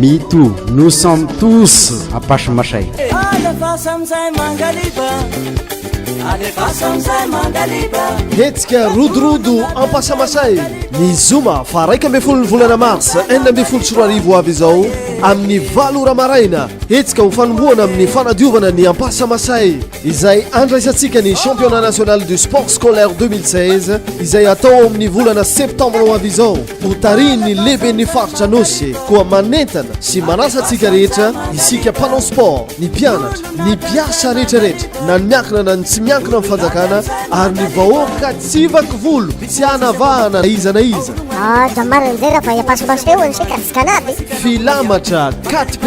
Me too, nous sommes tous à Pachimashay. Alefasa amizay mangaliba Alefasa amizay mangaliba Hetsika rodorodo ampasamasay ny zoma fa raika ambin'ny folo ny volana mars enina ambin'ny folo sy roa arivo avy izao amin'ny valo ora maraina hetsika ho fanombohana amin'ny fanadiovana ny ampasamasay izay andraisantsika ny championnat national du sport scolaire 2016 izay atao amin'ny volana septembre ho avy izao ho tarihin'ny lehiben'ny faritra nosy koa manentana sy manasa antsika rehetra isika mpanao sport ny mpianatra ny mpiasa rehetrarehetra na ny miankina na ny tsy miankina amin'ny fanjakana ary ny vahoaka tsy vaky volo tsy hanavahana na iza na iza ah, filamatra 4p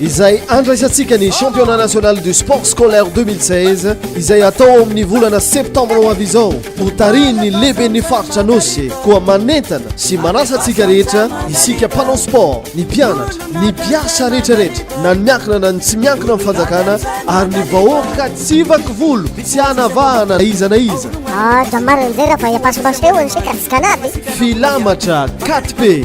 izay andraisantsika ny championnat national du sport scolaire 2016 izay atao amin'ny volana septembre ho avy izao ho tarihin'ny lehiben'ny faritra nosy koa manentana sy manasa antsika rehetra isika mpanao sport ny mpianatra ny mpiasa rehetrarehetra na ny miankina na ny tsy miankina amin'ny fanjakana ary ny vahoaka tsy vaky volo tsy hanavahana na iza na iza ah, filamatra 4p